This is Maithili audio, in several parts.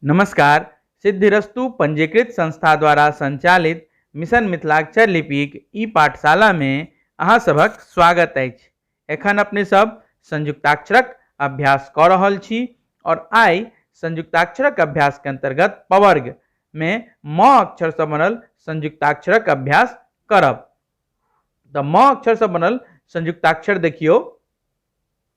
नमस्कार सिद्धिरस्तु पंजीकृत संस्था द्वारा संचालित मिशन मिथिलाक्षर लिपिक ई पाठशाला मे अहाँ सभक स्वागत अछि एखन अपने सब संयुक्ताक्षरक अभ्यास कऽ रहल छी और आइ संयुक्ताक्षरक अभ्यास के अंतर्गत पवर्ग मे म अक्षर से बनल संयुक्ताक्षरक अभ्यास करब तऽ म अक्षर से बनल संयुक्ताक्षर देखियौ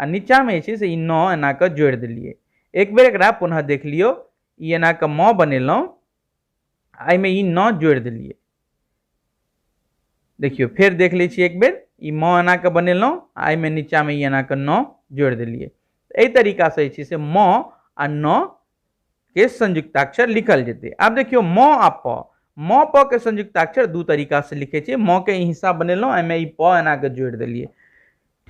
आ नीचाँमे जे छै से ई नओ एना कऽ जोड़ि देलियै एक बेर एकरा पुनः देख लियौ ई एना कऽ मौ बनेलहुँ आ एहिमे ई नओ जोड़ि देलियै देखियौ फेर देख लै छी एक बेर ई मौ एना कऽ बनेलहुँ आ एहिमे नीचाँमे ई एना कऽ नओ जोड़ि देलियै एहि तरीकासँ जे छै से मौ आ नओ के संयुक्ताक्षर लिखल जेतै आब देखियौ म आ प म प के संयुक्ताक्षर दू तरीका से लिखे छियै म के ई हिस्सा बनेलहुँ एहिमे ई प एना के जोड़ि देलियै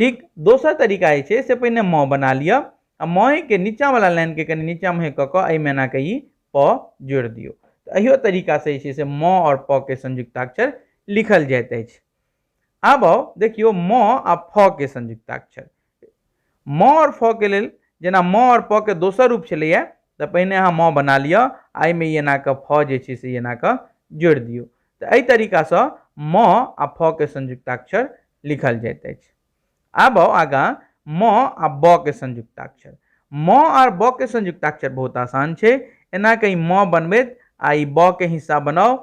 ठीक दोसर तरीका जे छै से पहिने म बना लिअ आ मए के नीचा वाला लाइन के कनि नीचा मुहे कऽ कऽ एहिमे एना के ई प जोड़ि दियौ तऽ एहियो तरीका से जे छै से म और प के संयुक्ताक्षर लिखल जाइत अछि आब आउ देखियौ म आ फ के संयुक्ताक्षर म आओर फ के लेल जेना म आओर प के दोसर रूप छलैया तऽ पहिने अहाँ म बना लिअ आ एहिमे ई एना कऽ फ जे छै से एना कऽ जोड़ि दियौ तऽ एहि तरीका सँ म आ फ के संयुक्ताक्षर लिखल जाइत अछि आब आउ आगाँ म आ ब के संयुक्ताक्षर म आर ब के संयुक्ताक्षर बहुत आसान छै एना कऽ ई म बनबैत आ ई ब के हिस्सा बनाउ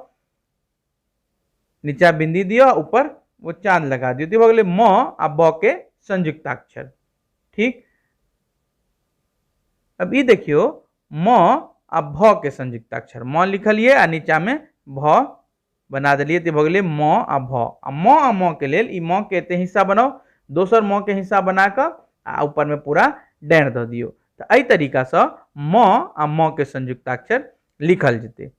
नीचा बिंदी दियो ऊपर वो चांद लगा दियो तो भगले म आ ब के संयुक्ताक्षर ठीक अब ये देखियो म आ भ के संयुक्ताक्षर म लिखलिए आ नीचा में भ बना दिलिए तो भगले म आ भ आ म आ म के लेल ई म के एते हिस्सा बनाओ दोसर म के हिस्सा बना कर आ ऊपर में पूरा डैर द दियो तो अ तरीका से म आ म के संयुक्ताक्षर लिखल जते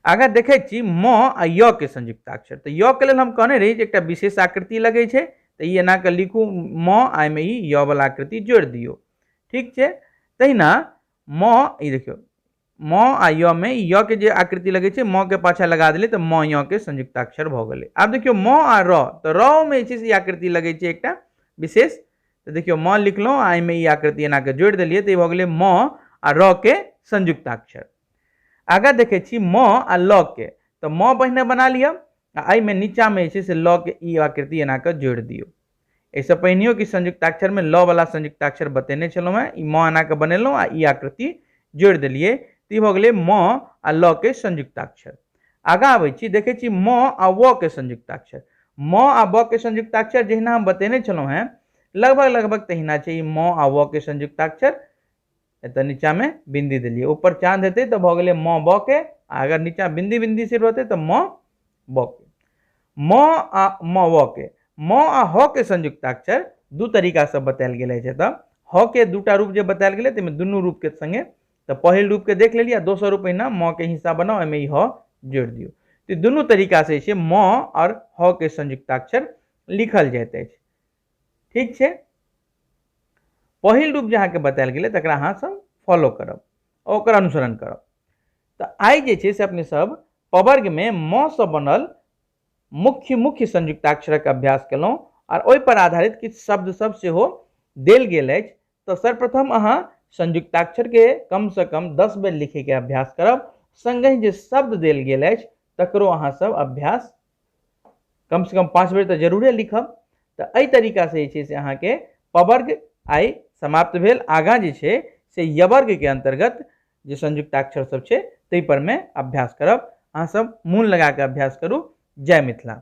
आगाँ देखै छी म आ य के संयुक्त अक्षर तऽ य के लेल हम कहने रही जे एकटा विशेष आकृति लगै छै तऽ ई एना कऽ लिखू म आ एहिमे ई य वला आकृति जोड़ि दियौ ठीक छै तहिना म ई देखियौ म आ य मे ई य के जे आकृति लगै छै म के पाछा लगा देलियै तऽ म य के संयुक्त अक्षर भऽ गेलै आब देखियौ म आ र तऽ र मे जे छै से ई आकृति लगै छै एकटा विशेष तऽ देखियौ म लिखलहुँ आ एहिमे ई आकृति एना कऽ जोड़ि देलियै तऽ ई भऽ गेलै म आ र के संयुक्ताक्षर आगाँ देखै छी म आ ल के तऽ म पहिने बना लिअ आ एहिमे नीचाँमे जे छै से ल के ई आकृति एना कऽ जोड़ि दियौ एहिसँ पहिनेहो कि संयुक्ताक्षरमे ल वला संयुक्ताक्षर बतेने छलहुँ हेँ ई म एना कऽ बनेलहुँ आ ई आकृति जोड़ि देलियै तऽ ई भऽ गेलै म आ ल के संयुक्ताक्षर आगा आबै छी देखै छी म आ व के संयुक्ताक्षर म आ ब के संयुक्ताक्षर जहिना हम बतेने छलहुँ हेँ लगभग लगभग तहिना छै ई म आ व के संयुक्ताक्षर एतऽ नीचाँमे बिन्दी देलियै ऊपर चाँद हेतै तऽ भऽ गेलै म ब के आ अगर नीचाँ बिन्दी बिन्दी से रहतै तऽ म ब के म आ म व के म आ ह के संयुक्ताक्षर दू तरीकासँ बतायल गेल अछि एतऽ ह के दूटा रूप जे बतायल गेलै ताहिमे दुनू रूपके सङ्गे तऽ पहिल रूपके देख लेलियै आ दोसर रूप अहिना म के हिस्सा बनाउ एहिमे ई ह जोड़ि दियौ तऽ ई दुनू तरीका से जे छै म आओर ह के संयुक्ताक्षर लिखल जाइत अछि ठीक छै पहिल रूप जे अहाँके बतायल गेलै तकरा अहाँ सब फॉलो करब आओर ओकर अनुसरण करब तऽ आइ जे छै से अपने सब पवर्गमे म सँ बनल मुख्य मुख्य संयुक्ताक्षरक अभ्यास केलहुँ आओर ओहिपर आधारित किछु शब्द सब सेहो देल गेल अछि तो सर्वप्रथम अहा संयुक्ताक्षर के कम से कम दस बेर लिखे के अभ्यास करब संगे जो शब्द दिल गए तकरो अहा सब अभ्यास कम से कम पाँच बेर तो जरूरे लिखब तो यही तरीका से जे से अहा के पवर्ग आई समाप्त भेल आगा जे छे से यवर्ग के अंतर्गत जो संयुक्ताक्षर सब छे तई पर में अभ्यास करब अहा सब मून लगा के अभ्यास करू जय मिथिला